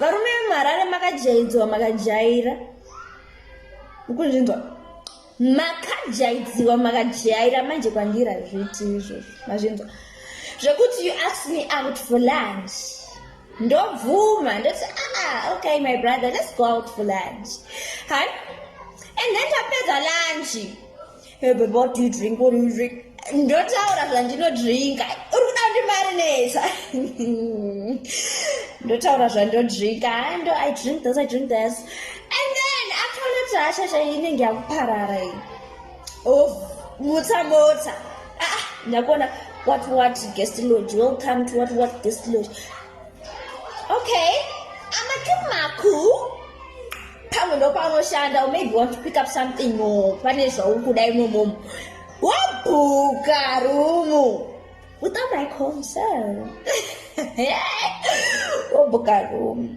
varume vemuharare makajaidzwa makajaira ukunzvinzwa makajaidziwa makajaira manje kwandira zviti izvozvo mazvinzwa zvekuti you ask me out for lunch ndobvuma ndoti ah okay my brother let's go out for lunch and then tapedza lunch Hey, babe, what do you drink? What do you drink? ndotaura zvandinodrinka uri kuda kundimarineta ndotaura zvandodrinka ndo i drink this i drink this and then akaona kuti hasha chaiyo inenge yakuparara iyi of mutsa mota ah, ndakuona what what guest lodge welcome to what what guest lodge okay amatumaku pamwe ndopanoshanda or maybe want to pick up something no pane zvauri kuda imomomo wabhuka rumu without my concern wabhuka rumu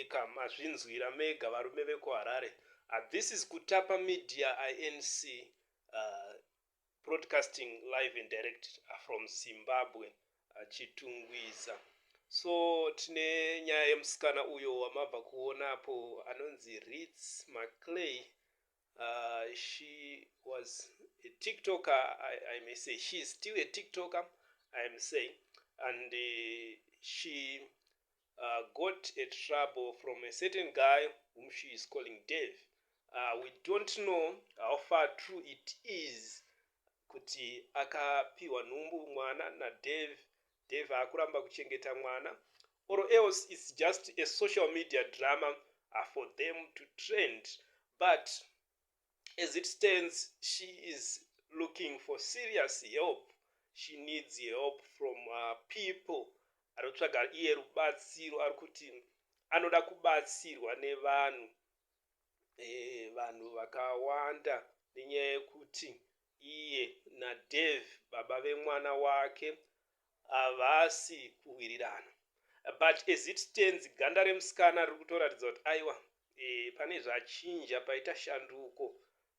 Eka mazvinzwira mega varume vekuHarare. Uh, this is Kutapa Media INC uh, broadcasting live and direct uh, from Zimbabwe uh, Chitungwiza. So tine nyaya yemusikana uyo wamabva kuonapo anonzi Ritz Maclay Uh, she was a tiktoker I, I may say she is still a tiktoker I am saying and uh, she uh, got a trouble from a certain guy whom she is calling Dave uh, we don't know how far true it is kuti akapiwa nhumbu mwana naDave Dave haakuramba kuchengeta mwana or else it's just a social media drama ah, for them to trend but as it stands she is looking for serious help she needs help from uh, people ari kutsvaga iye rubatsiro ari kuti anoda kubatsirwa nevanhu eh, vanhu vakawanda nenyaya yekuti Iye naDave baba vemwana wake havasi kuwirirana but as it stands ganda remusikana riri kutoratidza kuti aiwa eh, pane zvachinja paita shanduko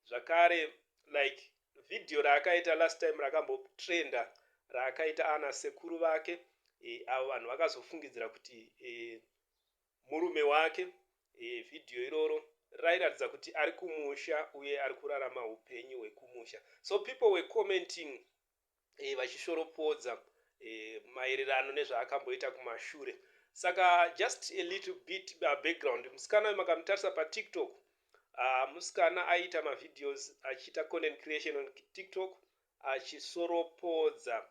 zvakare like video raakaita last time rakambotrenda raakaita ana sekuru vake eh, avo vanhu vakazofungidzira kuti eh, Murume wake. Video iroro rairatidza kuti ari kumusha uye ari kurarama hupenyu hwekumusha so people were commenting vachishoropodza maererano nezvaakamboita kumashure saka just a little bit background musikana uyu makamutarisa patiktok uh, musikana aiita mavideos achiita content creation on tiktok achisoropodza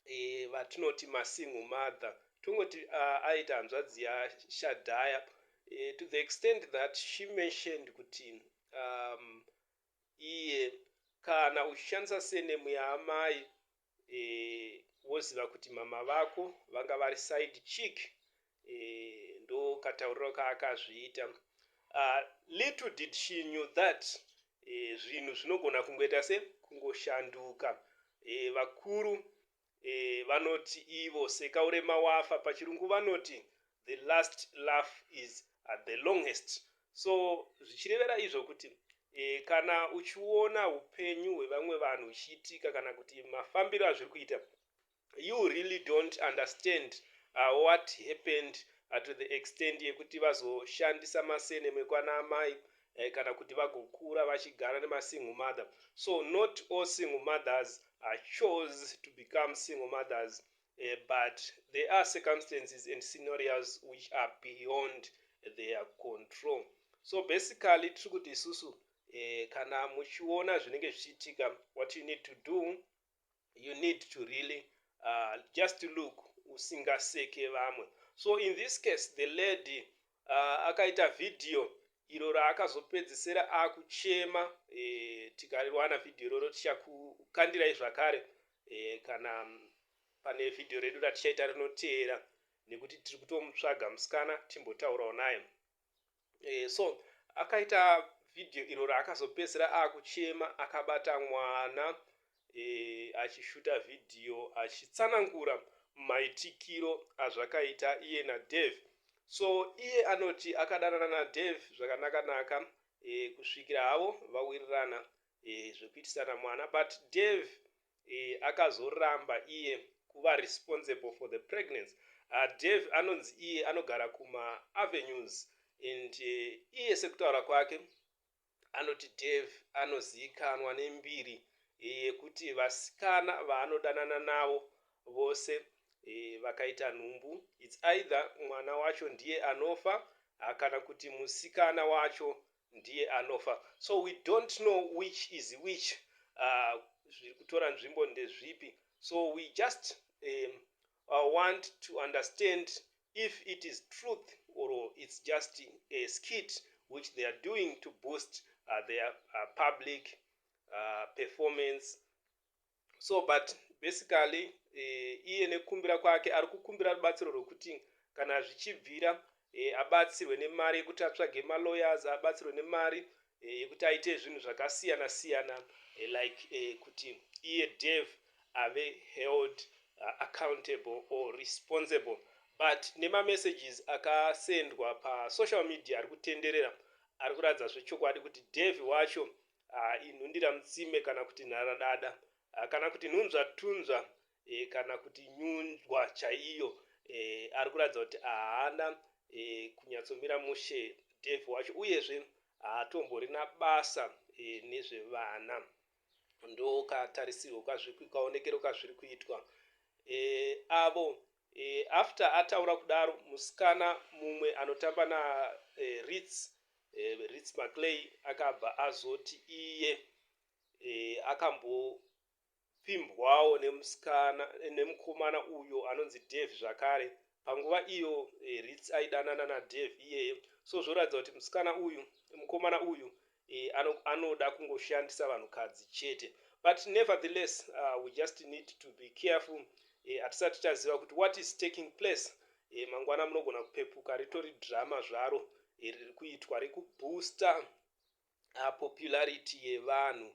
eh, vatinoti masingle mother tongoti uh, aita hanzvadzi yaShadhaya eh, to the extent that she mentioned kuti um, iye kana uchishandisa senemu yaamai eh, woziva kuti mama vako vanga vari side chick Eeh ndoo katauriro kaakazviita ahh little did she knew that eeh zvinhu zvinogona kungoita se kungoshanduka eeh vakuru eeh vanoti ivo seka urema wafa pachirungu vanoti the last laugh is at the longest so zvichirevera izvo kuti eeh kana uchiona hupenyu hwevamwe vanhu huchiitika kana kuti mafambiro azviri kuita you really don't understand uh, what happened uh, to the extent yekuti vazoshandisa masene mekwana amai eh, kana kuti vagokura vachigara nemasingle mother so not all single mothers are uh, chose to become single mothers eh, but there are circumstances and scenarios which are beyond their control so basically tiri kuti isusu eh, kana muchiona zvinenge zvichiitika what you need to do you need to really uh, just look usingaseke vamwe so in this case the lady uh, akaita vhidhiyo iro raakazopedzisira akuchema e, eh, tikariwana vhidhiyo iroro tichakukandirai zvakare e, kana mm, pane vhidhiyo redu ratichaita rinoteera nekuti tiri kutomutsvaga musikana timbotaurawo naye e, so akaita video iro raakazopedzisira akuchema akabata mwana e, achishuta video achitsanangura maitikiro azvakaita iye nadave so iye anoti akadanana nadave zvakanaka naka e, kusvikira havo vawirirana e, zvekuitisana mwana but dave eh, akazoramba iye kuva responsible for the pregnancy uh, Dave anonzi iye anogara kuma avenues and uh, iye sekutaura kwake anoti Dave anozivikanwa nembiri eh, yekuti vasikana vaanodanana navo vose e, vakaita nhumbu its either mwana wacho ndiye anofa ah, kana kuti musikana wacho ndiye anofa so we don't know which is which uh, zviri kutora nzvimbo ndezvipi so we just um, uh, want to understand if it is truth or it's just a skit which they are doing to boost uh, their uh, public uh, performance so but basically eh, iye nekukumbira kwake ari kukumbira rubatsiro rwekuti kana zvichibvira eh, abatsirwe nemari yekuti atsvage malawyers abatsirwe nemari eh, yekuti aite zvinhu zvakasiyana siyana eh, like eh, kuti iye dev ave held uh, accountable or responsible but nemamessages akasendwa pasocial media ari kutenderera ari kuratidza zvechokwadi kuti dev wacho ah, inhundira mutsime kana kuti nharadada ah, kana kuti nhunzvatunzva e, kana kuti nyunzwa chaiyo e, ari kuratidza kuti haana e, kunyatsomira mushe dev wacho uyezve haatomborina basa e, nezvevana ndokatarisirwo kazviri kukaonekero kazviri kuitwa e, avo After ataura kudaro musikana mumwe anotamba na Ritz, Ritz Maclay akabva azoti iye akambopfimbwawo nemusikana nemukomana uyo anonzi Dave zvakare panguva iyo Ritz aidanana na Dave iyeye so zvoratidza kuti musikana uyu mukomana uyu eh, ano, anoda kungoshandisa vanhukadzi chete but nevertheless uh, we just need to be careful eh, hatisati taziva kuti what is taking place eh, mangwana munogona kupepuka ritori drama zvaro eh, riri kuitwa rekubooster uh, popularity yevanhu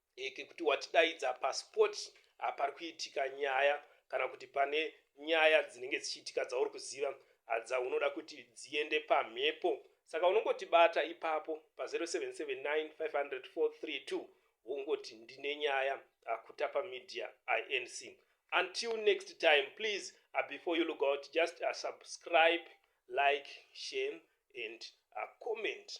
e, kekuti watidaidza paspot hapari kuitika nyaya kana kuti pane nyaya dzinenge dzichiitika dzauri kuziva dzaunoda kuti dziende pamhepo saka unongotibata ipapo pa0779500432 wongoti ndine nyaya akutapa ah, media inc until next time please uh, before you look out just uh, subscribe like share and uh, comment